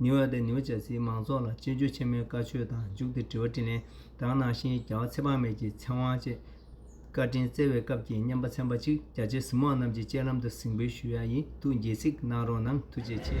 ནིའུ་ཡོག་དང་ནིའུ་ཇར་སིའི་མང་ཚོགས་ལ་སྤྱི་སྤྱོད་ཆེན་མོའི་བཀའ་ཆོས་དང་མཇུག་ཏུ་དྲི་བ་དྲིས་ལན་དག་གནང་ཞིང་རྒྱལ་བ་ཚེ་དཔག་མེད་ཀྱི་ཚེ་དབང་བཅས་བཀའ་དྲིན་བསྩལ་བའི་སྐབས་ཀྱི་སྙན་པ་ཚན་པ་གཅིག་རྒྱ་ཆེ་གཟིགས་མོ་རྣམས་ཀྱི་སྤྱན་ལམ་དུ་གཟིགས་འབུལ་ཞུ་ཡ་ཡིན་འདུག་འགྱེད་གཟིགས་གནང་རོགས་གནང་ཐུགས་རྗེ་ཆེ།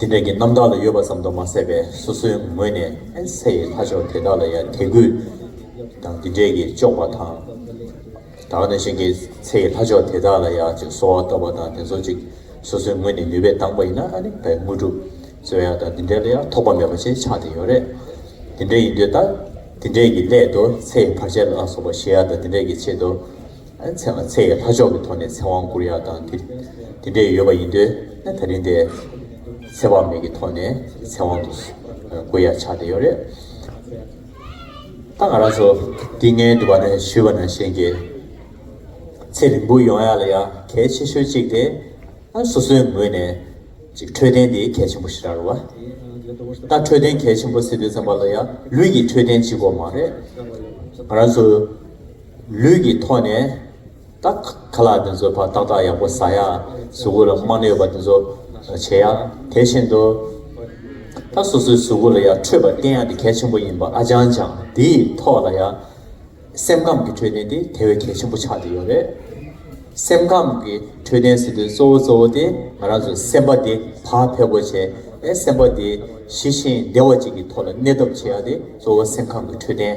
དེ་འདྲ་གྱི་རྣམ་དག་ལ་ཡོད་པ་ཙམ་དུ་མ་ཟད་པས་སོ་སོའི་ངོས་ནས་ཨེན་ས་ཡི་ལྷ་མཆོག་དེ་དག་ལ་ཡང་དད་གུས་དང་དེ་འདྲས་ཀྱིས་གཅོག་པ་དང། དག་ན་གཤེན་གྱི་ཚེ་ཡི་ལྷ་མཆོག་དེ་དག་ལ་ཡང་ཅིག་གསོལ་བ་བཏབ་པ་དང་དེ་ཚོ་ཅིག་སོ་སོའི་ངོས་ནས་ནུས་པས་བཏང་པ་ཡིན་ན་ནི་བའི་དངོས་གྲུབ་སྩོལ་ཡ་དང་དེ་འདྲས་ལ་ཡང་ཐོགས་པ་མེད་པ་ཅན་ཆགས་དེ་ཡོད་རེད། དེ་འདྲས་ཡིན་དུས་ད་དེ་འདྲས་ཀྱི་སླད་དུ་ཚེ་ཡི་བར་ཆད་ལ་སོགས་པ་ཞི་ཡ་དང་དེ་འདྲས་ཀྱི་ཆེད་དུ། མཚན་ལ་ཚེ་ཡི་ལྷ་མཆོག་གི་ཐོག་ནས་ཚེ་དབང་བསྐུར་ཡ་དང་དེ་དེ་འདྲས་ཡོད་པ་ཡིན་འདོད་ན་ད་རིང་དེ་ཚེ་དཔག་མེད་ཀྱི་ཐོག་ནས་ཚེ་དབང་དུ་བསྐུར་ཡ་ཆགས་བསྡད་ཡོད་རེད། ད་ང་རང་ཚོ་དེ་ངའི་འདུན་པ་ནས་ཞུས་པ་ན་གཞན་གྱི་ཚེ་རིང་པོ་ཡོང་ཡ་ལ་ཡ་གལ་ཆེ་ཤོས་གཅིག་དེ་སོ་སོའི་ངོས་ནས་ཅིག་འཕྲོད་བསྟེན་དེ་གལ་ཆེན་པོ་ཞིག་རག་ལོ། ད་འཕྲོད་བསྟེན་གལ་ཆེན་པོ་ཟེར་དུས་ཚང་མ་ལ་ཡ་ལུས་ཀྱི་འཕྲོད་བསྟེན་གཅིག་གོ་མ་རེད། ང་རང་ཚོ། ལུས་ཀྱི་ཐོག་ནས་དག། ཁ་ལག་འདི་ཚོ་ཕར་ཏག་ཏག་ཡག་པོ་ཟ་ཡ། གཟུགས་པོ་ལ་རྨ་ནད་ཡོད་པ་འདི་ཚོ་བྱེད་ཡ། དེ་བཞིན་དུ། ད་སོ་སོའི་གཟུགས་པོ་ལ་ཡ་འཕྲོད་པ་བསྟེན་ཡ་འདི་གལ་ཆེན་པོ་ཡིན་པ་ཨ་ཅང་ཅང་འདིའི་ཐོག་ལ་ཡ། སེམས་ཁམས་ཀྱི་འཕྲོད་བསྟེན་དེ་དེ་བས་གལ་ཆེན་པོ་ཆགས་བསྡད་ཡོད་རེད། སེམས་ཁམས་ཀྱི་འཕྲོད་བསྟེན་ཟེར་དུས་གཙོ་བོ་གཙོ་བོ་དེ་ང་རང་ཚོའི་སེམས་པ་དེ་བག་ཕེབས་པོ་བྱེད་ཨེ་སེམས་པ་དེ་ཞི་ཞིང་བདེ་བ་ཅིག་གི་ཐོག་ལ་གནས་ཐབས་བྱེད་ཡ་དེ་གཙོ་བོ་སེམས་ཁམས་ཀྱི་འཕྲོད་བསྟེན།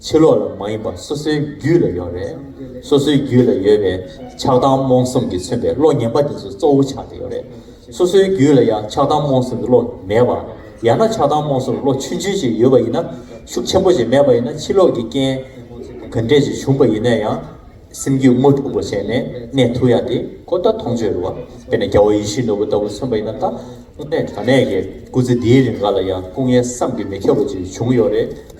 ཕྱི་ལོགས་ལ་མ་ཡིན་པ་སོ་སོའི་རྒྱུད་ལ་ཡོད་རེད། སོ་སོའི་རྒྱུད་ལ་ཡོད་པའི་ཆགས་སྡང་རྨོངས་གསུམ་གྱིས་མཚོན་པའི་བློ་ངན་པ་དེ་ཚོ་གཙོ་བོ་ཆགས་ཀྱི་ཡོད་རེད། སོ་སོའི་རྒྱུད་ལ་ཡང་ཆགས་སྡང་རྨོངས་གསུམ་གྱི་བློ་མེད་པ། ཡང་ན་ཆགས་སྡང་རྨོངས་གསུམ་གྱི་བློ་ཆུན་ཆུན་ཞིག་ཡོད་པ་ཡིན་ན། ཤུགས་ཆེན་པོ་ཞིག་མེད་པ་ཡིན་ན་ཕྱི་ལོགས་ཀྱི་རྐྱེན་གང་འདྲས་ཀྱིས་བྱུང་བ་ཡིན་ན་ཡང། སེམས་རྒྱུད་དངོས་གྲུབ་པོ་བྱས་ནས་གནས་ཐུབ་ཡ་དེ་ཁོ་ད་མཐོང་ཆོས་རེད་བ། དེ་ནས་རྒྱལ་བ་ཡེ་ཤེས་ནོར་བུ་ལྟ་བུ་མཚོན་པ་ཡིན་ན་ད་དངོས་གནས་དྲང་གནས་ཀྱི་སྐུ་ཚེ་འདིའི་རིང་འགའ་ལ་ཡང་སྐུ་ངལ་བསམ་གྱིས་མི་ཁྱབ་པ་ཅིག་བྱུང་ཡོད་རེད།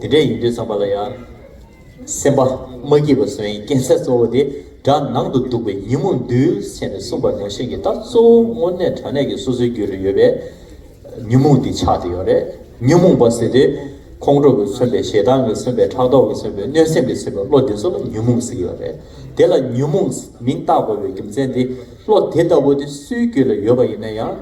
དེ་འདྲ་ཡིན་དུས་ཚངས་པ་ལ་ཡང། སེམས་པ་མ་སྐྱིད་པ་སོན་ཡིན་རྐྱེན་གསལ་གཙོ་བོ་དེ་དགྲ་ནང་དུ་འདུག་པའི་ཉིན་མོ་འདུལ་བྱེད་ནས་གསུངས་པ་ནང་བཞིན་གྱི་རྟགས་གཙོ་བོ་དངོས་གནས་དྲ་གནས་ཀྱི་སོ་སོའི་རྒྱུད་རུ་ཡོད་པའི། ཉོན་མོངས་འདི་ཆགས་ཏེ་ཡོད་རེད་ཉོན་མོངས་པ་ཟེར་དུས། ཁོང་ཁྲོ་གིས་མཚོན་པའི་ཞེ་སྡང་གིས་མཚོན་པའི་ཕྲག་དོག་གིས་མཚོན་པའི་གནོད་སེམས་ཀྱིས་མཚོན་པའི་བློ་འདི་ཚོ་ལ་ཉོན་མོངས་ཟེར་གྱི་ཡོད་རེད་དེ་ལ་ཉོན་མོངས་མིང་བཏགས་དགོས་པའི་རྒྱུ་མཚན་དེ་བློ་དེ་ལྟ་བུ་དེ་སུའི་རྒྱུད་ལ་ཡོད་པ་ཡིན་ན་ཡང།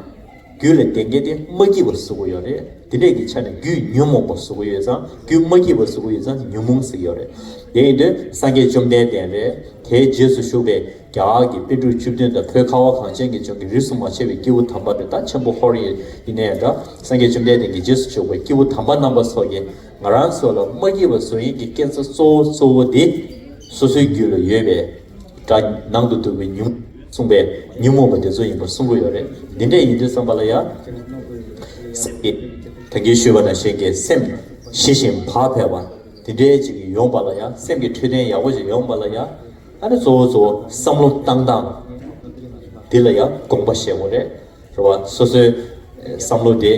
རྒྱུད་ལ་བདེན་གཉིས་དེ་མ་སྐྱིད་པར་གཟུགས་ཡོད་རེད་དེ་འདྲས་ཀྱི་ཆ་ནས་རྒྱུད་ཉོན་མོངས་པར་གཟུགས་ཡོད་ཙང་རྒྱུད་མ་སྐྱིད་པར་གཟུགས་ཡོད་ཙང་ཉོན་མོངས་སུ་ཡོད་རེད་དེ་ཡིན་དུས་སངས་རྒྱས་བཅོམ་ལྡན་འདས་རེད་དེའི་རྗེས་སུ་ཞུགས་པའི་རྒྱ་གར་གྱི་དཔེ་དྲུག་བཅུ་བདུན་དང་བོད་ཁ་བ་གངས་ཅན་གྱི་ལྗོངས་ཀྱི་རིས་སུ་མ་ཆད་པའི་སྐྱེས་བུ་དམ་པ་རི་དྭགས་ཆེན་པོ་ཧོར་ཡེ་ཡི་ནས་འདྲ་སངས་རྒྱས་བཅོམ་ལྡན་འདས་ཀྱི་རྗེས་སུ་ཞུགས་པའི་སྐྱེས་བུ་དམ་པ་རྣམ་པ་སོགས་ཀྱིས་ང་རང་ཚོ་ལ་མ་སྐྱིད་པར་གཟུགས་ཡིན་གྱི་སྐད་ཆ་གཙོ་བོ་གཙོ་བོ་དེ་སོ་སོའི་རྒྱུད་ལ་ཡོད་པའི། སྒྲ། ནང་དུ་འདུག་པའི་ཉིན་མོ། གསུངས་པས། ཉིན་མོ་བ་དེ་ཚོ་ཡིན་པར་གསུང་གི་ཡོད་རེད། འདི་འདྲས་ཡིན་དུས་བསམ་པ་ལ་ཡང། སེམས་ཀྱི། དོན་གྱིས་ཞུས་པ་དང་གཞན་གྱི་སེམས། ཞི་ཞིང་བག་ཕེབས་པ། འདི་འདྲས་ཅིག་ཡོང་པ་ལ་ཡང་སེམས་ཀྱི་འཕྲོད་བསྟེན་ཡག་པོ་ཞིག་ཡོང་པ་ལ་ཡང། ཨ་ནི་གཙོ་བོ་གཙོ་བོ་བསམ་བློ་བཏང་སྟངས། འདི་ལ་ཡང་དགོངས་པ་བཞེད་དགོས་རེད། རེད་བ། སོ་སོའི། བསམ་བློ་དེ།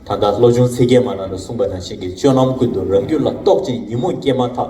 ད་ལྟ་བློ་ཆུང་ཚིག་རྒྱན་མ་ནང་དུ་གསུངས་པ་དང་གཞན་གྱི་སྤྱོད་ལམ་ཀུན་ཏུ་རང་རྒྱུད་ལ་རྟོག་ཅིང་ཉིན་མོ་སྐྱེས་མ་ཐག།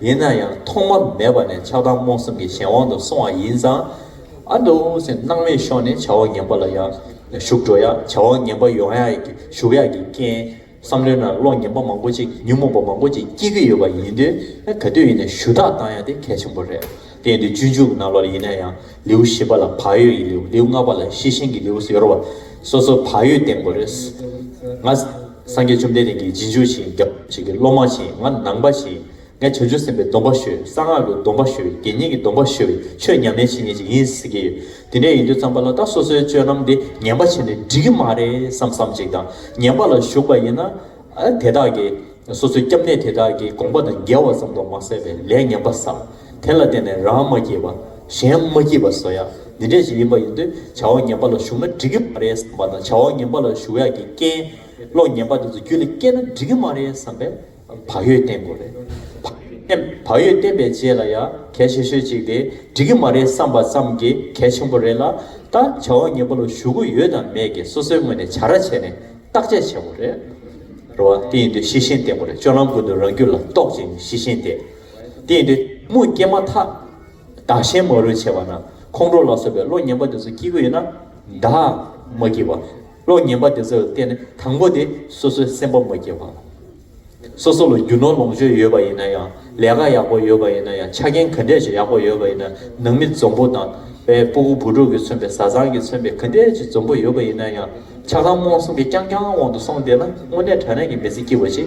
ཡིན་ན་ཡང་ཐོག་མ་མེད་པ་ནས་ཆགས་སྡང་རྨོངས་སེམས་ཀྱི་གཞན་དབང་དུ་སོང་བ་ཡིན་ཙང། ཨ་འདོ་ཟེར་སྣང་མེད་ཤོར་ནས་བྱ་བ་ངན་པ་ལ་ཡང་ཞུགས་འགྲོ་ཡ་བྱ་བ་ངན་པ་ཡོང་ཡ་ཞུགས་ཡ་གི་རྐྱེན་བསམ་བློའི་ནང་བློ་ངན་པ་མང་པོ་ཅིག་ཉོན་མོངས་པ་མང་པོ་ཅིག་སྐྱེས་ཀྱི་ཡོད་པ་ཡིན་དུས་ག་དུས་ཡིན་ན་ཞུ་དག་བཏང་ཡ་དེ་གལ་ཆེན་པོ་རེད་དེ་ཡིན་དུས་སྤྱོད་འཇུག་གི་ནང་ལོགས་ལ་ཡིན་ན་ཡང་ལེའུ་བཞི་པ་ལ་བག་ཡོད་ཀྱི་ལེའུ་ལེའུ་ལྔ་པ་ལ་ཤེས་བཞིན་གྱི་ལེའུ་ཟེར་བ་སོ་སོ་བག་ཡོད་བསྟེན་དགོས་རེད། སངས་རྒྱས་བཅོམ་ལྡན་འདས་ཀྱིས་རྗེས་འཇུག་ཤིང་རྒྱབ་བྱེད་ཀྱི་སློབ་མ་བཞིན་ང་ནང་པ་བཞིན་ངས་བྱང་ཆུབ་སེམས་དཔའི་སྡོམ་པ་ཤོད་གསང་སྔགས་ཀྱི་སྡོམ་པ་ཤོད་དགེ་བསྙེན་གྱི་སྡོམ་པ་ཤོད་པའི་ཆོས་ཉམས་ལེན་བྱེད་ངེས་ཅིག་ཡིན་ཟེར་གྱི་ཡོད་དེ་འདྲ་ཡིན་དུས་ཙམ་པ་ལ་ད་སོ་སོའི་སྤྱོད་ལམ་འདི་ངན་པ་བྱས་ནས་འགྲིག་གི་མ་རེད་བསམ་བསམ་ཅིག་དང་ངན་པ་ལ་ཞུགས་པ་ཡིན་ན། དེ་དག་གིས་སོ་སོའི་སྐྱབས་གནས་དེ་དག་གི་དགོངས་པ་དང་འགལ་བ་ཙམ་དུ་མ་ཟད་པའི་ལས་ངན་པ་བསགས། དེ་ལ་བརྟེན་ནས་རང་མ་སྐྱེས་པ། གཞན་མ་སྐྱེས་པ་བཟོ་ཡག་འདི་འདྲས་ཤིག་ཡིན་པ་ཡིན་དུས་བྱ་བ་ངན་པ་ལ་ཞུགས་ན་འགྲིག་གི་མ་རེད་བསམ་པ་དང་བྱ་བ་ངན་པ་ལ་ཞུགས་ཡག་གི་རྐྱེན་བློ་ངན་པ་དེ་ཚོ་རྒྱུད་ལ་སྐྱེས་ན་འགྲིག་གི་མ་རེད་བསམ་པའི་བག་ཡོད་བསྟེན་དགོས་རེད། བག་ཡོད་བསྟེན་པའི་རྗེས་ལ་ཡང་གལ་ཆེ་ཤོས་གཅིག་དེ་འགྲིག་གི་མ་རེད་བསམ་པ་ཙམ་གྱིས་གལ་ཆེན་པོ་རེད་ལ། ད་བྱ་བ་ངན་པ་ལ་ཞུགས་གི་ཡོད་དམ་མེད་ཀྱི་སོ་སོའི་ངོས་ནས་བྱ་ར་བྱས་ནས་བརྟག་དཔྱད་བྱེད་དགོས་རེད། རེད་བ། དེ་ཡིན་དུས་གཤེ་གཤེན་བསྟེན་དགོས་རེད་སྤྱོད་ལམ་ཀུན་ཏུ་རང་རྒྱུད་ལ་རྟོག་ཅིང་གཤེ་གཤེན་བསྟེན། བསྟན་ཏེ། དམུ་སྐྱེས་མ་ཐག་བདག་གཞན་མ་རུ་བྱེད་པ་ན་ཁོང་ཁྲོ་ལ་སོགས་པའི་བློ་ངན་པ་དེ་ཚོ་སྐྱེ་རྒྱུ་ཡོད་ན། བདག་མ་སྐྱེས་པ། བློ་ངན་པ་དེ་ཚོ་ལ་བརྟེན་ནས་དང་པོ་དེ་སོ་སོའི་སེམས་པ་མ་སྐྱེས་པ། སོ་སོ་ལ་རྒྱུ་ནོར་ལོངས་སྤྱོད་ཡོད་པ་ཡིན་ན་ཡང་ལས་ཀ་ཡག་པོ་ཡོད་པ་ཡིན་ན་ཡང་ཆ་རྐྱེན་ག་འདྲས་ཀྱི་ཡག་པོ་ཡོད་པ་ཡིན་ན་ནང་མི་འཛོམས་པོ་དང། སྤུ་གུ་བུ་ཕྲུག་གིས་མཚོན་པའི་བཟའ་ཚང་གིས་མཚོན་པའི་ག་འདྲས་ཀྱི་འཛོམས་པོ་ཡོད་པ་ཡིན་ན་ཡང་ཆ་ཚང་རྨོངས་གསུམ་གྱི་རྐྱང་རྐྱང་དབང་དུ་སོང་བསྡད་ན་དངོས་གནས་དྲ་གནས་ཀྱི་མི་ཚེ་སྐྱིད་པོ་ཅིག་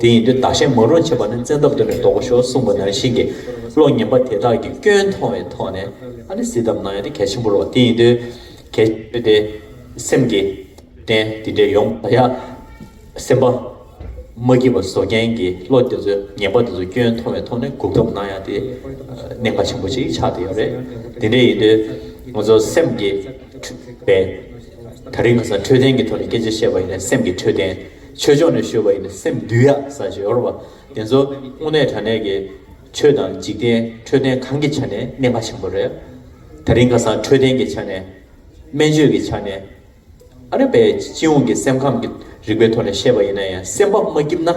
དེ་ཡིན་དུས་བདག་གཞན་མ་རུང་བྱེད་པ་ནི་བཙན་ཐབས་འདོན་པའི་ལྡོག་པ་ཤོར་གསུངས་པ་ནང་བཞིན་གྱི་བློ་ངན་པ་དེ་དག་གི་སྐྱོན་མཐོང་བའི་ཐོག་ནས་ཨ་ནི་བསིལ་གདམས་གནང་ཡ་དེ་གལ་ཆེན་པོ་རོགས་དེ་ཡིན་དུས་གལ་ཆེན་པོ་དེ་སེམས་ཀྱི་རྟེན་དེ་འདྲའི་ཡོང་པ་ཡ་སེམས་པ་མ་སྐྱིད་པ་བཟོ་མཁན་གྱི་བློ་དེ་ཚོ་ངན་པ་དེ་ཚོ་སྐྱོན་མཐོང་བའི་ཐོག་ནས་གུག་གདམས་གནང་ཡ་དེ་གནད་འགག་ཆེན་པོ་ཅིག་ཆགས་བསྡད་ཡོད་རེད་དེ་འདྲའི་ཡིན་དུས་ང་ཚོ་སེམས་ཀྱི་འཕྲོད་པའི་ད་རིང་ཁ་སང་འཕྲོད་བསྟེན་གྱི་ཐོག་ནས་སྐད་ཆ་བཤད་པ་ཡིན་ན་སེམས་ཀྱི་འཕྲོད་བསྟེན། ཆོས་ཕྱོགས་ནས་ཤོད་པ་ཡིན་ན་སེམས་འདུལ་ཡག་ས་ཞིག་ཡོད་རེད། དེ་ཚོ་དངོས་གནས་དྲ་གནས་ཀྱི་ཆོས་དང་འཇིག་རྟེན་འཕྲོད་བསྟེན་གང་གི་ཆ་ནས་གནད་འགག་ཆེན་པོ་རེད། ད་རིང་ཁ་སང་འཕྲོད་བསྟེན་གྱི་ཆ་ནས། སྨན་བཅོས་ཀྱི་ཆ་ནས། ཨ་རེ་པས་སྤྱི་ཡོངས་ཀྱི་སེམས་ཁམས་ཀྱི་རིག་པའི་ཐོག་ནས་བཤད་པ་ཡིན་ན་ཡང་སེམས་པ་མ་སྐྱིབས་ན།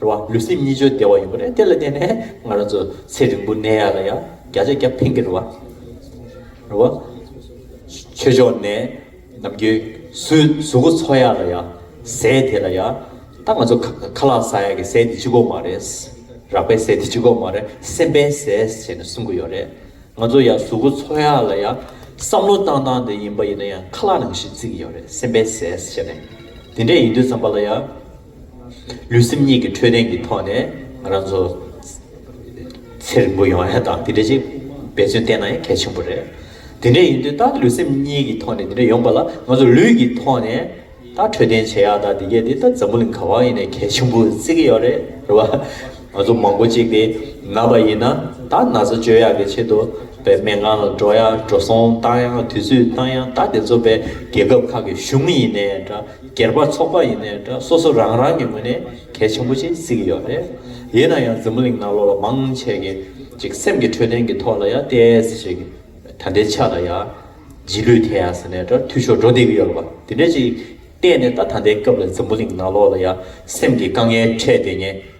རེད་བ། ལུས་སེམས་གཉིས་སྦྱོར་བདེ་བ་ཡོད་པ་རེད་དེ་ལ་བརྟེན་ནས་ང་རང་ཚོ་ཚེ་རིང་པོ་གནས་ཡག་ལ་ཡང་བརྒྱ་ཆ་བརྒྱ་ཕན་གྱི་རེད་བ། རེད་བ། ཆོས་ཕྱོགས་ནས་ནམ་རྒྱུན་སུས་གཟུགས་པོ་འཚོ་ཡག་ལ་ཡང་ཟས་དེ་ལ་ཡང་ད་ང་ཚོ་ཁ་ལག་བཟའ་ཡག་གི་ཟས་དེ་ཅི་གོ་མ་རེད། རག་པའི་ཟས་དེ་ཅི་གོ་མ་རེད་སེམས་པའི་ཟས་ཟེར་ནས་གསུང་གི་ཡོད་རེད། ང་ཚོ་ཡང་གཟུགས་པོ་འཚོ་ཡག་ལ་ཡང་བསམ་བློ་བཏང་བཏང་དེ་ཡིན་པ་ཡིན་ན་ཡང་ཁ་ལག་ནང་བཞིན་བརྩི་གི་ཡོད་རེད་སེམས་པའི་ཟས་ཟེར་ནས་དེ་འདྲས་ཡིན་དུས་བསམ་པ་ལ་ཡང། ལུས་སེམས་གཉིས་ཀྱི་འཕྲོད་བསྟེན་གྱི་ཐོག་ནས་ང་རང་ཚོ་ཚེ་རིང་པོ་ཡོང་ཡ་དང་དེ་འདྲ་ཅིག་འབད་བརྩོན་བསྟེན་ན་ཡང་གལ་ཆེན་པོ་རེད། དེ་འདྲ་ཡིན་དུས་ད་ལུས་སེམས་གཉིས་ཀྱི་ཐོག་ནས་དེ་འདྲ་ཡོང་པ་ལ་ང་ཚོ་ལུས་ཀྱི་ཐོག་ནས་ད་འཕྲོད་བསྟེན་བྱེད་ཡ་དང་དེ་གས་དེ་ད་འཛམ་བུ་གླིང་གང་བ་ཡིན་ནས་གལ་ཆེན་པོ་བརྩི་གི་ཡོད་རེད་རེད་བ། ང་ཚོ་མང་པོ་ཅིག་དེ་ན་བ་ཡིན་ན་ད་ན་ཚ་བཅོས་ཡག་གི་ཆེད་དུ་བས་སྨན་ཁང་ལ་འགྲོ་ཡ་འགྲོ་སོང་བཏང་ཡ་དུས་ཚོད་བཏང་ཡ་ད་དེ་ཚོ་བས་རྒྱལ་ཁབ་ཁག་གི་གཞུང་ཡིན་ནས་འདྲ། སྒེར་པ་ཚོགས་པ་ཡིན་ནའི་འདྲ་སོ་སོ་རང་རང་གི་ངོས་ནས་གལ་ཆེན་པོ་ཞིག་གཟིགས་ཀྱི་ཡོད་རེད། ཡིན་ན་ཡང་འཛམ་བུ་གླིང་ན་ལོ་ལ་མང་ཆེ་གེ་ཅིག་སེམས་ཀྱི་འཕྲོད་བསྟེན་གྱི་ཐོག་ལ་ཡང་བལྟས་ཟེར་གྱི་ད་ལྟའི་ཆ་ལ་ཡང་རྗེས་ལུས་དེ་ཡང་ཟེར་ནའི་འདྲ་འཐུས་ཤོར་འགྲོ་བསྡད་ཀྱི་ཡོད་ལ་བ་དེ་འདྲ་ཅིག་བལྟས་ནས་ད་ད་ལྟའི་སྐབས་ལ་འཛམ་བུ་གླིང་ན་ལོ་ལ་ཡང་སེམས་ཀྱི་དཀའ་ངལ་འཕྲད་བསྡད་ཉེན།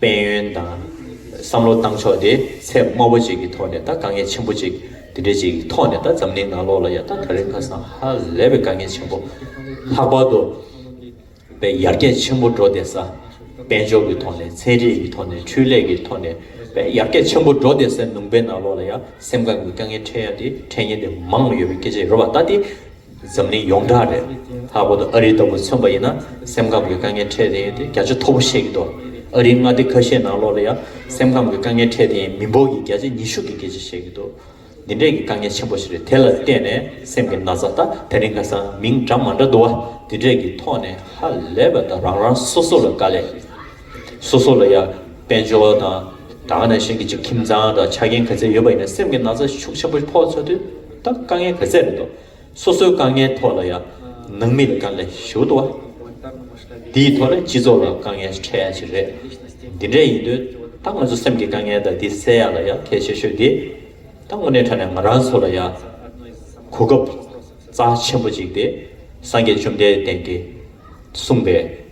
དཔལ་ཡོན་དང། བསམ་བློ་བཏང་ཕྱོགས་དེ་ཚད་དམའ་བོ་ཅིག་གི་ཐོག་ནས་དང་དཀའ་ངལ་ཆེན་པོ་ཅིག་དེ་འདྲའི་ཅིག་གི་ཐོག་ནས་དང་འཛམ་གླིང་ནང་ལོགས་ལ་ཡང་དང་ད་རེས་ཁ་སང་ཧ་ལས་པའི་དཀའ་ངལ་ཆེན་པོ་ལྷག་པར་དུ་བའི་ཡར་རྒྱས་ཆེན་པོ་འགྲོ་བསྡད་ས་དཔལ་འབྱོར་གྱི་ཐོག་ནས་ཚན་རིག་གི་ཐོག་ནས་འཕྲུལ་ལས་ཀྱི་ཐོག་ནས་བའི་ཡར་རྒྱས་ཆེན་པོ་འགྲོ་བསྡད་སའི་ནུང་པའི་ནང་ལོགས་ལ་ཡང་སེམས་ཁམས་ཀྱི་དཀའ་ངལ་འཕྲད་ཡ་དེ་འཕྲད་ཉེན་དེ་མང་ཡོད་པའི་སྐད་ཆ་ཡོད་པ་ལྟ་སྟེ། འཛམ་གླིང་ཡོངས་གྲགས་རེད། ལྷག་པར་དུ་ཨ་རི་ལྟ་བུ་མཚོན་པ་ཡིན་ན་སེམས་ཁམས་ཀྱི་དཀའ་ངལ་འཕྲད་དེ་ཡིན་ཏེ་བརྒྱ་ཆ་མཐོ་པོ་བཤད་ཀྱི་འདུག་ཨ་རིའི་མངའ་སྡེ་ཁ་ཤས་ནང་ལོགས་ལ་ཡང་སེམས་ཁམས་ཀྱི་དཀའ་ངལ་འཕྲད་དེ་ཡིན་མི་འབོར་གྱི་བརྒྱ་ཆ་ཉི་ཤུ་གིས་སྐད་ཆ་བཤད་ཀྱི་འདུག་འདི་འདྲས་ཀྱི་དཀའ་ངལ་ཆེན་པོ་ཞིག་རེད་དེ་ལ་བརྟེན་ནས་སེམས་ཀྱི་ན་ཚ་ད་ད་རིང་ཁ་སང་མིང་འདྲ་མ་འདྲ་འདུག་བ་འདི་འདྲས་ཀྱི་ཐོག་ནས་ཧ་ལས་པ་ད་རང་རང་སོ་སོ་ལ་དཀའ་ལས་སོ་སོ་ལ་ཡ་དཔལ་འབྱོར་དང་ད་ག་ནང་བཞིན་གྱི་ཁྱིམ་ཚང་དང་ཆ་རྐྱེན་ག་ཚད་ཡོད་པ་ཡིན་ན་སེམས་ཀྱི་ན་ཚ་ཤུགས་ཆེན་པོ་ཕོག་ཚ་དུས། ད་དཀའ་ངལ་ག་ཚད་རེད་དོ། སོ་སོའི་དཀའ་ངལ་ཐོག་ལ་ཡང་ནང་མི་ལ་དཀའ་ངལ་ཞུ་དོ། དེའི་ཐོག་ལ་སྤྱི་ཚོགས་ལ་དཀའ་ངལ་འཕྲད་ཡ་ཆེ་རེད། འདི་འདྲས་ཡིན་དུས་ད་ང་ཚོ་སེམས་ཀྱི་དཀའ་ངལ་དང་དེ་སེལ་ཡ་ལ་ཡང་གལ་ཆེ་ཤོས་དེ། ད་དངོས་གནས་ཁྲ་ནས་ང་རང་ཚོ་ལ་ཡང་གོ་སྐབས་རྩ་ཆེན་པོ་ཅིག་དེ་སངས་རྒྱས་བཅོམ་ལྡན་འདས་ཀྱིས་གསུངས་པའི།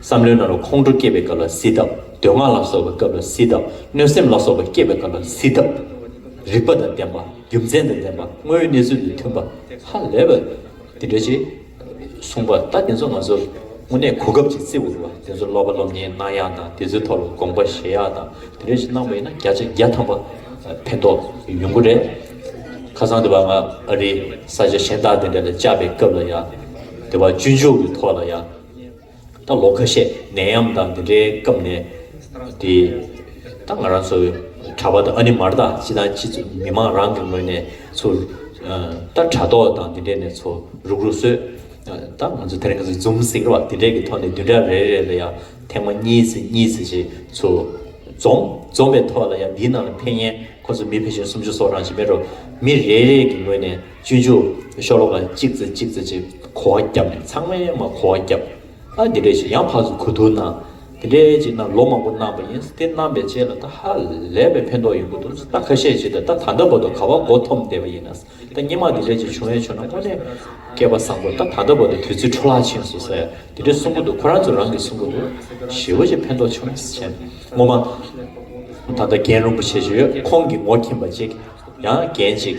བསམ་བློའི་ནང་ལ་ཁོང་ཁྲོ་སྐྱེས་པའི་སྐབས་ལ་བསིལ་དྭབས། འདོད་སྔགས་ལ་སོགས་པའི་སྐབས་ལ་བསིལ་དྭབས། གནོད་སེམས་ལ་སོགས་པ་སྐྱེས་པའི་སྐབས་ལ་བསིལ་དྭབས། རིག་པ་དང་ལྡན་པ། རྒྱུ་མཚན་དང་ལྡན་པ། དངོས་ཡོད་གནས་ཚུལ་དང་མཐུན་པ། ཧ་ལས་པ། འདི་འདྲ་ཞིག། གསུངས་པ་ལྟར་དེ་ཚོ་ང་ཚོར་དངོས་གནས་གོ་སྐབས་ཅིག་བརྩི་འོས་པ། དེ་ཚོར་ཀློག་པ་སློབ་གཉེར་གནང་ཡག་དང་དེ་ཚོའི་ཐོག་ལ་དགོངས་པ་བཞེས་ཡག་དང་དེ་འདྲ་ཞིག་གནང་བ་ཡིན་ན་བརྒྱ་ཆ་བརྒྱ་ཐམ་པ་ཕན་ཐོགས་ཡོང་གི་རེད། ཁ་སང་དེ་བ་ང་ཨ་རིའི་ས་ཆ་གཞན་དག་དེ་འདྲ་ལ་བཅར་བའི་སྐབས་ལ་ཡང། དེ་བ་སྤྱོད་འཇུག་གི་ཐོག་ལ་ཡང། ད་ལོ་ཁ་ཤས་ནད་ཡམས་དང་འདི་འདྲའི་སྐབས་ནས་དེ། ད་ང་རང་ཚོ་གྲྭ་པ་དང་ཨ་ནེ་མར་དང་ཅི་དང་ཅི་ཚོ་མི་མང་རང་གི་ངོས་ནས་ཚོ། ད་དྲ་ཐོག་དང་འདི་འདྲས་ནས་ཚོ་རུག་རུག་བཟོས། ད་ང་ཚོ་དེ་རིང་ང་ཚོ་འཛུམ་ཟིང་ར་བ་འདི་འདྲས་ཀྱི་ཐོག་ནས་བདུན་ཕྲག་རེ་རེ་ལ་ཡང་ཐེངས་མ་གཉིས་ཚེ་གཉིས་ཚེ་ཞེས་ཚོ་འཛོམས། འཛོམས་པའི་ཐོག་ལ་ཡང་འདིའི་ནང་ལ་ཕན་ཡན་ཁོ་ཚོ་མི་ཕལ་ཆེར་སུམ་ཅུ་སོ་གྲངས་ཞིག་མེད་རུང་མི་རེ་རེ་གི་ངོས་ནས། བཅུ་བཅུ། ཤོ་ལོ་ཀ་གཅིག་རྩེ་གཅིག་རྩེ་གཅིག་གོ་བ་བརྒྱབ་ནས་ཚང་མས་མ་གོ་བ་བརྒྱབ། ཨ་དེ་འདྲས་ཤིག་ཡང་ཕག་སུ་གུ་ཐུག་ན། དེ་འདྲས་ཅིག་རྣམས་ལོ་མང་པོ་བསྣམས་པ་ཡིན་དེ་བསྣམས་པའི་རྗེས་ལ་ད་ཧ་ལས་པའི་ཕན་ཐོགས་ཡོང་གི་འདུག་ད་ཁ་ཤས་ཤིག་ད་ད་ད་འདྲ་བོ་ད་ག་བ་མགོ་འཐོམ་བསྡད་པ་ཡིན་ན་ད་སྙེ་མ་དེ་འདྲས་ཅིག་བྱུང་ཡ་བྱུང་ན་དངོས་གནས་སྐལ་པ་བཟང་པོ་ད་ད་འདྲ་བོ་ད་དུས་ཚོད་འཕྲོ་ལག་ཆིངས་སུ་ཟེར་དེ་འདྲས་གསུང་གི་འདུག་ཁོ་རང་ཚོ་རང་གིས་གསུང་གི་འདུག་ཞེ་བོ་ཅིག་ཕན་ཐོགས་བྱུང་ན་བྱས། ངོ་མ་ད་ད་རྒན་རིན་པོ་ཆེ་ཞིག་ཡོད་ཁོང་གིས་ངོ་ཁྱིམ་པ་ཅིག་ཡང་རྒན་ཅིག།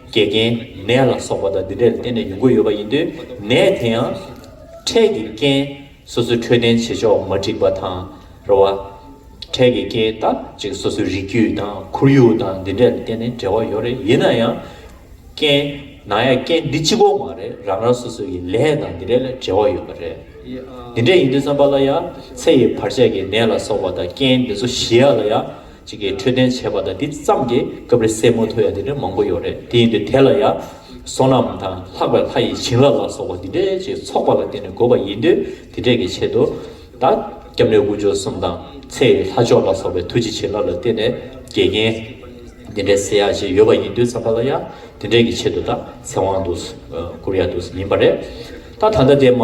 འགལ་རྐྱེན་ནད་ལ་སོགས་པ་དག་འདི་འདྲས་ལ་བརྟེན་ནས་ཡོང་གི་ཡོད་པ་ཡིན་དུས་ནད་དེ་ཡང་འཕྲལ་གྱི་རྐྱེན་སོ་སོའི་འཕྲོད་བསྟེན་བྱེད་ཕྱོགས་མ་འགྲིག་པ་དང། རེ་བ། འཕྲལ་གྱི་རྐྱེན་དག་ཅིག་སོ་སོའི་རིགས་རྒྱུད་དང་ཁོར་ཡུག་དང་འདི་འདྲས་ལ་བརྟེན་ནས་འབྲེལ་བ་ཡོད་རེད་ཡིན་ན་ཡང། རྐྱེན། ནང་ཡང་རྐྱེན་འདི་གཅིག་གོ་མ་རེད་རང་རང་སོ་སོའི་ཡི་ལས་དང་འདི་འདྲས་ལ་འབྲེལ་བ་ཡོད་པ་རེད། འདི་འདྲས་ཡིན་དུས་བསམ་པ་ལ་ཡང་ཚེ་ཡི་བར་ཆད་ཀྱི་ནད་ལ་སོགས་པ་དང་རྐྱེན་འདི་ཚོ་ཞི་ཡ་ལ་ཡང། གཅིག་གིས་འཕྲོད་བསྟེན་བྱས་པ་དང་འདི་ཙམ་གྱིས་སྐབས་རེ་སེར་མོ་ཐོ་ཡ་འདི་འདྲ་མང་པོ་ཡོད་རེད་དེ་ཡིན་དུས་དེ་ལ་ཡང། བསོད་ནམས་དང་ལྷག་པའི་ལྷ་ཡི་བྱིན་རླབས་ལ་སོགས་པ་འདི་འདྲའི་ཅིག་ཚོགས་པ་ལ་བརྟེན་ནས་དགོས་པ་ཡིན་དུས་དེ་འདྲས་ཀྱི་ཆེད་དུ། ད་སྐྱབས་གནས་དབུ་ཆོས་གསུམ་དང་ཚེ་ཡི་ལྷ་མཆོག་ལ་སོགས་པའི་ཐུགས་རྗེ་བྱིན་རླབས་ལ་བརྟེན་ནས་དགེ་རྒན། འདི་འདྲའི་སེར་ཡག་ཅིག་ཡོད་པ་ཡིན་དུས་བསམ་པ་ལ་ཡང་དེ་འདྲས་ཀྱི་ཆེད་དུ་ད་ཚེ་དབང་དུ་བསྐུར་ཡ་དུས་ཡིན་པ་རེད་ད་ད་ལྟ་དེ་མ།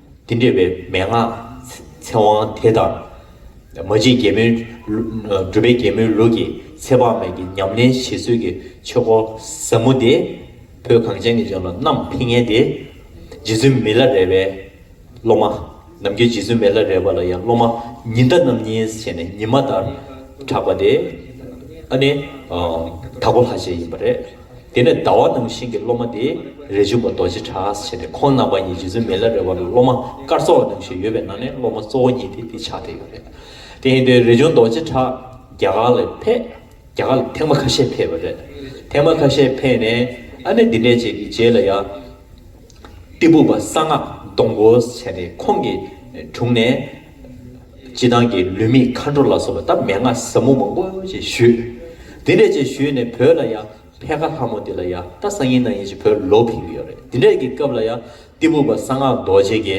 དེ་འདྲེས་པའི་མན་ངག་ཚེ་དབང་དེ་དང། མ་གཅིག་རྒྱལ་མོའི། སྒྲུབ་པའི་རྒྱལ་མོའི་ལུགས་ཀྱི་ཚེ་དཔག་མེད་ཀྱི་ཉམས་ལེན་བྱེད་ཚུལ་གྱི་ཆོས་སྐོར་ཟབ་མོ་དེ། བོད་གངས་ཅན་གྱི་ལྗོངས་ལ་བསྣམས་ཕིན་ངེས་ཏེ། རྗེ་བཙུན་མི་ལ་རས་པའི་སློབ་མ། ནམ་རྒྱུན་རྗེ་བཙུན་མི་ལ་རས་པ་ལ་ཡང་སློབ་མ་ཉི་ཟླ་རྣམ་གཉིས་བྱས་ནས་ཉི་མ་ལྟར་གྲགས་པ་དེ། ཨ་ནི། དྭགས་པོ་ལྷ་ཆེན་ཡིན་པ་རེད། དེ་ནས་ཟླ་བ་ནང་བཞིན་གྱི་སློབ་མ་དེས་རས་ཆུང་པ་རྡོ་རྗེ་བྲག་ཨ་བྱས་ཏེ་ཁོང་རྣམ་པ་གཉིས་རྗེ་བཙུན་མི་ལ་རས་བ་ལ་སློབ་མ་སྐར་ཚོགས་ནང་བཞིན་ཡོད་པའི་ནང་ནས་སློབ་མ་གཙོ་བོ་གཉིས་དེ་དེ་ཕྱག་དེ་ཡོད་རེད། དེ་ཡིན་དུས་རས་ཆུང་རྡོ་རྗེ་བྲག་རྒྱ་གར་ལ་ཕེབས། རྒྱ་གར་ལ་ཐེངས་མ་ཁ་ཤས་ཕེབས་པ་རེད། ཐེངས་མ་ཁ་ཤས་ཕེབས་ནས་ཨ་ནེ་འདི་འདྲས་བྱས་ཀྱི་རྗེས་ལ་ཡང། གཏི་སྦུག་པ་གསང་སྔགས་སྡོང་བོ་བྱས་ཏེ་ཁོང་གི་དྲུང་ནས། སྤྱི་བཏང་གི་ལུས་མེད་མཁའ་འགྲོ་ལ་སོགས་པ་སྟབས་མེད་ལྔ་ཟབ་མོ་མང་པོ་ཅེས་ཞུས། འདི་འདྲས་ཅེས་ཞུས་ནས་བོས་ལ་ཡང་ཕལ་ཁ་ལྷ་མོ་དེ་ལ་ཡང་ད་སང་ཡིན་ན་ཡིན་ཅིག་བོས་ལོག་ཕིང་གི་ཡོད་རེད་འདི་འདྲས་ཀྱི་སྐབས་ལ་ཡང་གཏི་མུག་པ་གསང་སྔགས་རྡོ་རྗེ་གེ་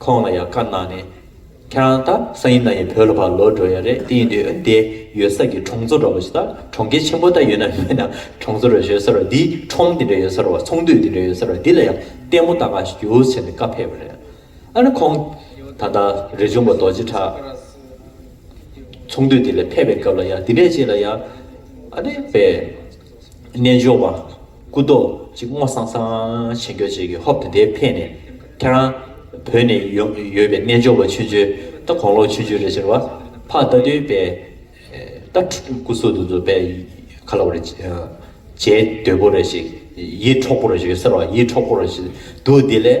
ཁོང་ལ་ཡང་བཀའ་གནང་ནས། ཁྱེད་རང་ད་སང་ཡིན་ན་ཡིན་བོས་ལ་ཕར་ལོག་འགྲོ་ཡ་རེད་དེ་ཡིན་དུས་འོན་ཏེ་ཡོད་ས་ཀྱི་གྲོང་ཚོ་འདྲ་བོ་ཞིག་ད་གྲོང་ཁྱེར་ཆེན་པོ་ད་ཡོད་ན་མེད་ན་གྲོང་ཚོ་རེ་ཞོལ་ས་ར་འདི་ཁྲོམ་འདི་འདྲས་ཡོད་ས་ར་བ་ཚོང་འདུས་འདི་འདྲས་ཡོད་ས་ར་འདི་ལ་ཡང་ལྟད་མོ་ལྟ་གང་ཞིག་རྒྱུ་ཟེར་ནས་བཀའ་ཕེབས་པ་རེད། ཨ་ནི་ཁོང། ད་ལྟ་རི་འབྱུང་པ་རྡོ་རྗེ་བྲག། ཚོང་འདུས་དེ་ལས་ཕེབས་པའི་སྐབས་ལ་ཡང་འདི་འདྲས་ཅིག་ལ་ཡང། ཨ་ནི་པའི། རྣལ་འབྱོར་པ། སྐུ་རྡོ་རྗེ་སྔོ་སང་སང་ཆེ་མགྱོགས་ཅིག་གིས་ཧོབ་དེ་འདྲའི་ཕེ་ནས། ཁྱེད་རང། བོད་ནས་ཡོང་ཡོད་པའི་རྣལ་འབྱོར་པ་ཆུན་ཆུན་ད་དགོང་ལོ་ཆུན་ཆུན་རེད་ཟེར་བ། ཕ་རྟ་འདུལ་པའི། རྟ་སྐུ་གསོལ་དུ་འཛུལ་བས། ཁ་ལ་བ་རེ། བྱའི་དོད་པོ་རེ་ཞིག། ཡིད་འཕྲོག་པོ་རེ་ཞིག་ཡོད་ཟེར་བ་ཡིད་འཕྲོག་པོ་རེ་ཞིག་འདུག་དེ་ལས།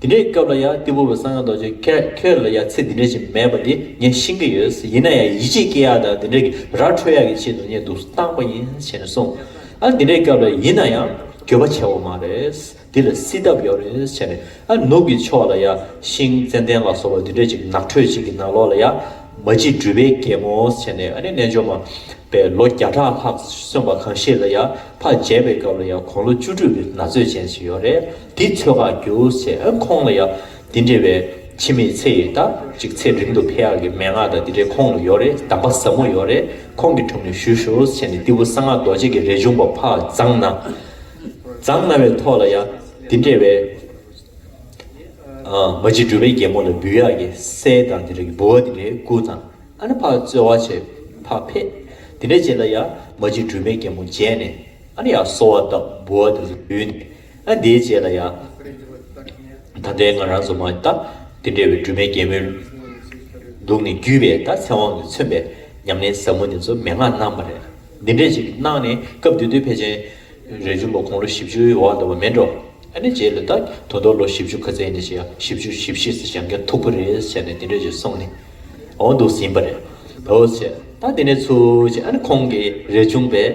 འདི་འདྲའི་སྐབས་ལ་ཡང་ཏི་བུ་བ་ས་ང་རྡོ་རྗེ་ཁྱོད་ལ་ཡང་ཚིག་འདི་འདྲ་ཞིག་མེད་པ་འདི་ངས་ཤེས་ཀྱི་ཡོད་ཡིན་ན་ཡང་ཡིད་ཆེས་སྐྱེ་ཡག་དང་འདི་འདྲ་གི་ར་འཕྲོད་ཡག་གི་ཆེད་དུ་ངས་འདུག་སྟངས་པ་ཡིན་བྱས་ནས་སོང་ཨ་འདི་འདྲའི་སྐབས་ལ་ཡིན་ན་ཡང་འགྱོད་པ་ཆེ་བ་མ་རེད་འདི་ལ་སྲིད་ཐབས་ཡོད་རེད་བྱས་ནས་ཨ་ནུབ་ཀྱི་ཕྱོགས་ལ་ཡང་ཤིང་ཙན་དན་ལ་སོགས་པ་འདི་འདྲ་ཅིག་ནགས་ཁྲོད་ཅིག་གི་ནང་ལོགས་ལ་ཡང་མ་གཅིག་སྦྲུལ་པའི་རྒྱལ་མོ་བྱས་ནས་ཨ་ནི་རྣལ་འབྱོར་མ་པའི་ལོ་བརྒྱ་ཕྲག་ལྷག་སོན་པ་གང་ཞིག་ལ་ཡང་ཕ་བརྒྱད་པའི་སྐབས་ལ་ཡང་གོང་ལོ་བཅུ་དྲུག་གི་ན་ཚོད་ཅན་ཞིག་ཡོད་རེད། དེའི་ཚོད་དགའ་རྒྱུ་ཚེ་ཁོང་ལ་ཡང་འདི་འདྲ་བའི་འཆི་མེད་ཚེ་ཡོད་ད་ཅིག་ཚེ་རིང་དུ་འཕེལ་ཡག་གི་མན་ངག་དང་འདི་འདྲའི་ཁོང་ལ་ཡོད་རེད་གདམས་པ་ཟབ་མོ་ཡོད་རེད་ཁོང་གི་དྲུང་ནས་ཞུ་ཞུ་བྱས་ནས་ཏི་བུ་གསང་སྔགས་རྡོ་རྗེ་གི་རས་ཆུང་པོ་ཕ་བརྫངས་ན་བརྫངས་ན་བའི་ཐོག་ལ་ཡང་འདི་འདྲ་བའི་མ་གཅིག་སྒྲུབ་པའི་རྒྱལ་མོ་ལ་འབུལ་ཡག་གི་སྲས་དང་འདི་འདྲ་གི་བུ་བ་འདི་འདྲའི་སྐུ་བརྫངས་ཨ་ནི་ཕ་རྩོལ་བ་ཆེ་ཕ་ཕེད་འདི་འདྲ་བྱས་ལ་ཡང་མ་གཅིག་སྒྲུབ་པའི་རྒྱལ་མོ་མཇལ་ནས་ཨ་ནི་ཡང་གསོལ་བ་བཏབ་བུ་བ་འདི་འདྲ་ལ་འབུལ་ནས། ཨ་དེའི་རྗེས་ལ་ཡང། ད་ལྟའི་ང་རང་ཚོ་མ་ད་དེ་འདྲ་བའི་སྦྲུམ་མའི་རྒྱལ་མོའི། ལུགས་ནི་བརྒྱུད་པའི་ད་ཚེ་དབང་གིས་མཚོན་པའི་ཉམས་ལེན་ཟབ་མོ་འདི་ཚོ་མན་ངག་སྣང་བ་རེད། འདི་འདྲས་ཅིག་གནང་ནས་སྐབས་དེ་དུས་ཕལ་ཆེན། རས་ཆུང་པ་དགུང་ལོ་བཞི་བཅུའི་འོག་འདུག་པ་མིན་འགྲོ། ཨ་ནི་རྗེས་ལ་ད་དུང་ཐོག་ལོ་བཞི་བཅུ་ཁ་ཚེ་ནི་བྱས་ཡ་བཞི་བཅུ་བཞི་བཞི་སོ་ཞང་ག་མཐུག་པོ་རེད་བྱས་ནས་དེ་འདྲས་ཅིག་སོང་ནས། འོང་འདུག་ཟིན་པ་རེད། འོ་བྱས། ད་དེ་ནས་ཚུར་བྱས་ཨ་ནི་ཁོང་གིས་རས་ཆུང་པའི།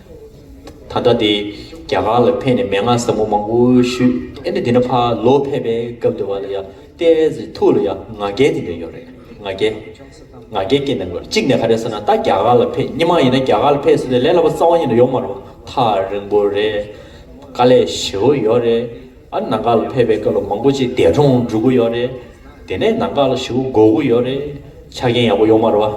ད་ལྟ་དེ་རྒྱ་གར་ལ་ཕེབས་ནས་མན་ངག་ཟབ་མོ་མང་པོ་ཞུས་ཨེ་ནས་དེ་ནས་ཕ་ལོ་ཕེབས་པའི་སྐབས་དེ་བ་ལ་ཡང་ཏའེ་ཝེ་ཟི་ཐུག་ལ་ཡང་ང་རྒྱལ་དེ་འདྲ་ཡོད་རེད་ང་རྒྱལ་ང་རྒྱལ་སྐྱེ་མེད་དགོས་རེད་གཅིག་ནས་ག་རེ་ཟེར་ན་ད་རྒྱ་གར་ལ་ཕེབས་སྙི་མ་ཡིན་ན་རྒྱ་གར་ལ་ཕེབས་ཟེར་ཏེ་ལས་སླ་པོ་རྩ་བ་ཉིད་ནས་ཡོང་མ་རུང་ཐག་རིང་པོ་རེད་དཀའ་ལས་ཞེ་བོ་ཡོད་རེད། ཨ་ནང་ག་ལ་ཕེབས་པའི་སྐབས་ལ་མང་པོ་ཅིག་འདས་གྲོངས་འགྲོ་གི་ཡོད་རེད། དེ་ནས་ནང་ག་ལ་ཞི་བོ་སྒོ་དགུ་ཡོད་རེད། ཆ་རྐྱེན་ཡག་པོ་ཡོད་མ་རེད་བ།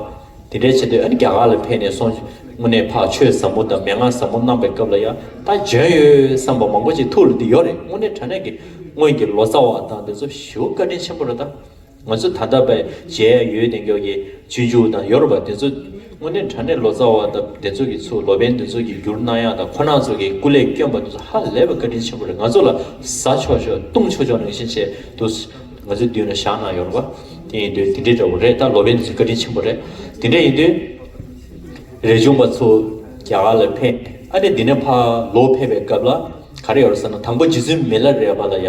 དེ་འདྲའི་ཆེད་དུ་ཨ་ནི་རྒྱ་གར་ལ་ཕེབས་ནས་སོང། དངོས་གནས་འཕགས་ཆོས་ཟབ་མོ་དང་མན་ངག་ཟབ་མོ་གནང་པའི་སྐབས་ལ་ཡང་ད་འཇོན་ཡོད་བསམ་པ་མང་པོ་ཅིག་ཐུགས་ལ་འདི་ཡོད་རེད་དངོས་གནས་དྲ་གནས་ཀྱི་སྔོན་གྱི་ལོ་ཙཱ་བ་དག་འདི་ཚོ་ཞི་བོ་བཀའ་དྲིན་ཆེན་པོ་རེད་ད། ང་ཚོ་ད་ལྟ་བས་མཇལ་ཡ་ཡོད་དེང་སྐྱོར་གྱི་ཇུས་འཇུག་དང་ཡོ་རོ་པ་དེ་ཚོ་དངོས་གནས་དྲ་གནས་ལོ་ཙཱ་བ་དང་དེ་ཚོ་གི་ཚུ་ལོ་པན་དེ་ཚོ་གི་འགྱུར་སྣང་ཡག་དང་ཁོ་ནག་ཚོ་གི་སྐུ་ལས་བསྐྱོན་པ་དེ་ཚོ་ཧ་ལས་པ་བཀའ་དྲིན་ཆེན་པོ་རེད་ང་ཚོ་ལ་ཟ་ཆོག་ཆོག་བཏུང་ཆོག་ཆོག་རང་བཞིན་བྱས་འདུག་ང་ཚོའི་མདུན་ལ་བཞག་གནང་ཡོ་རོ་པ་དེ་ཡིན་དུས་དེ་འདྲའི་འདྲ་བོ་རེད་ད་ལོ་པན་དེ་ཚོ་བཀའ་དྲིན་ཆེན་པོ་རེད་དེ་འདྲ་ཡིན་དུས་རེ་བྱུང་པ་ཚོ་རྒྱ་གར་ལ་ཕེབས་ཨ་ནི་འདི་ནས་ཕ་ལོ་ཕེབས་པའི་སྐབས་ལ་ག་རེ་ཡོ་རོ་ཟེར་ན་དང་པོ་རྗེ་བཙུན་མི་ལ་རས་པ་ལ་ཡ།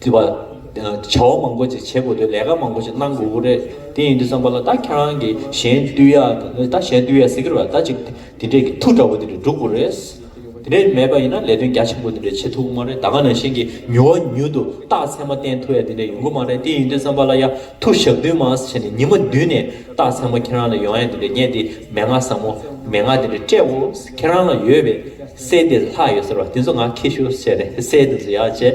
བརྩི་བ། བྱ་བ་མང་པོ་ཅིག་བྱེད་དགོས་དོན་ལས་ཀ་མང་པོ་ཅིག་གནང་དགོས་དགོས་རེད། དེ་ཡིན་དུས་བསམ་པ་ལ་ད་ཁྱེད་རང་གིས་གཞན་བསྟུད་ཡ་ད་གཞན་བསྟུད་ཡ་ཟེར་གི་རེད་པ་ད་ཅིག་དེ་འདྲས་ཀྱི་ཐུགས་དྲག་པོ་དེ་འདྲས་འགྲོ་དགོས་རེད། དེ་འདྲས་མེད་པ་ཡིན་ན་ལས་དོན་རྒྱ་ཆེན་པོ་དེ་འདྲས་བྱེད་ཐུབ་ཀྱི་མ་རེད་ད་སྔ་ནང་བཞིན་གྱི་མྱུར་བ་མྱུར་དུ་རྟགས་མཚན་མ་བསྟན་ཐུབ་ཡ་དེ་འདྲས་ཡོང་གི་མ་རེད་དེ་ཡིན་དུས་བསམ་པ་ལ་ཡ་ཐུགས་ཞབས་བརྟུན་མ་ཟེར་ནས་ཉི་མ་བདུན་ནས་རྟགས་མཚན་མ་ཁྱེད་རང་ལ་ཡོང་ཡ་དེ་འདྲས་རྙེད་དེ་མན་ངག་བཟང་མོ་མན་ངག་དེ་འདྲས་སྤྲད་འོས་ཁྱེད་རང་ལ་ཡོད་པའི་སྲས་དེ་ལྷག་ཡོད་ཟེར་བ་དེ་ཚོ་ང་ཁྱེད་ཤོ་ཟེར་ནས་སྲས་དེ་ཚོ་ཡ་བྱས།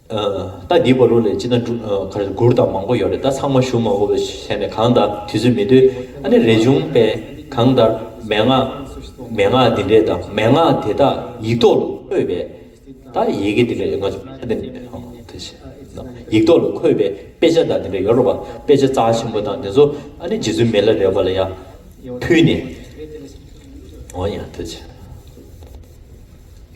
ད་འདི་བ་རུ་ལས་ཅི་ན་གུར་དང་མང་པོ་ཡོད་རེད་ད་ཚང་མ་ཞུ་མ་ཕོ་བའི་ཞལ་ནས་གང་ལྟར་དུས་ཚོད་མི་སྡོད་ཨ་ནི་རེ་བྱུང་པས་གང་ལྟར་མན་ངག་མན་ངག་འདི་འདྲས་དང་མན་ངག་དེ་དག་ཡིག་ཐོག་ལ་འཁོད་པས་ད་ཡི་གེ་འདི་འདྲས་ང་ཚོ་ཕ་དེ་ཡིག་ཐོག་ལ་འཁོད་པས་དཔེ་ཆ་དང་འདི་འདྲས་ཡོད་རོ་བ་དཔེ་ཆ་རྩ་ཆེན་པོ་དང་འདི་ཚོ་ཨ་ནི་རྗེ་བཙུན་མི་ལ་རས་བ་ལ་ཡ་ཕུལ་ནས་ཨོ་ཡ་ཐུ་ཆེ།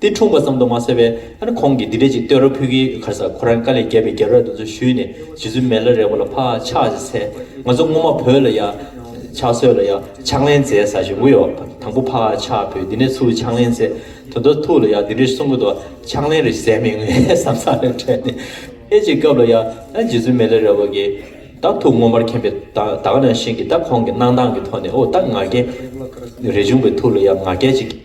དེ་འཁྲུངས་པ་ཙམ་དུ་མ་ཟད་པས་ཨ་ཁོང་གིས་འདི་འདྲས་ཅིག་བསྟོད་ར་ཕུལ་གི་ཁར་ས་ཁོ་རང་དཀའ་ལས་རྒྱབ་པའི་རྒྱབ་ར་དེ་ཚོ་བཞུས་ནས་ཇི་ཚོད་མེད་ལ་རེ་བ་ལ་ཕ་ཆགས་ཅིག་ཚེ་ང་ཚོ་སྔོན་མ་བོད་ལ་ཡ་ཕྱག་སྲོལ་ལ་ཡ་ཕྱག་ལེན་མཛད་ས་བཞིན་གུ་ཡོག་དང་པོ་ཕ་ཆགས་བོད་འདི་ནས་ཚུར་ཕྱག་ལེན་མཛད་དོན་དོ་ཐུག་ལ་ཡ་འདི་འདྲས་གསུང་གི་འདུག་ཕྱག་ལེན་རེ་ཟད་མི་ངའི་བསམ་ས་ལ་དྲན་ནས་ཨེ་ཅིག་སྐབས་ལ་ཡ་ཨ་ཇི་ཚོད་མེད་ལ་རེ་བ་གི་ད་ཐུག་སྔོན་མར་མཁྱེན་པའི་ད་ག་ནང་བཞིན་གི་ད་ཁོང་གི་གནང་སྟངས་ཀི་ཐོག་ནས་ཨོ་ད་ང་རྒྱལ་རེ་བྱུང་བའི་ཐུག་ལ་ཡ་ང་རྒྱལ་ཅིག་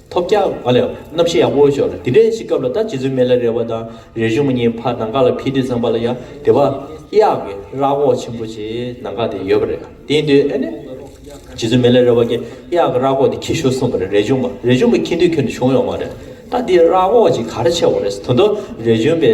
ཐོབ་རྒྱ། ཨ་ལས། རྣམ་ཤེས་ཡང་དབོ་བོ་ཞོག་ལ་དེ་འདྲའི་ཞིག་སྐབས་ལ་ད་རྗེ་བཙུན་མེ་ལ་རེ་བ་དང་རེ་གཞུང་མ་གཉིས་ཕར་ནང་ཀ་ལ་ཕིས་དུས་ཙམ་པ་ལ་ཡང་དེ་བ་གཡག་གི་རག་བོག་ཆེན་པོ་ཞིག་ནང་ཀ་དེ་ཡོད་པ་རེད་དེའི་དུས་ཨེ་ནས་རྗེ་བཙུན་མེ་ལ་རེ་བ་གི་གཡག་གི་རག་བོག་དེ་ཁྱི་ཤོར་གསུངས་པ་རེད་རེ་གཞུང་མ་རེ་གཞུང་མ་ཁྱི་འདུས་ཁྱོད་འདུས་བྱུང་ཡོང་བ་རེད་ད་དེའི་རག་བོག་ཅིག་ག་རེ་ཆེ་བ་རེད་ད་དུང་རེ་གཞུང་པའི།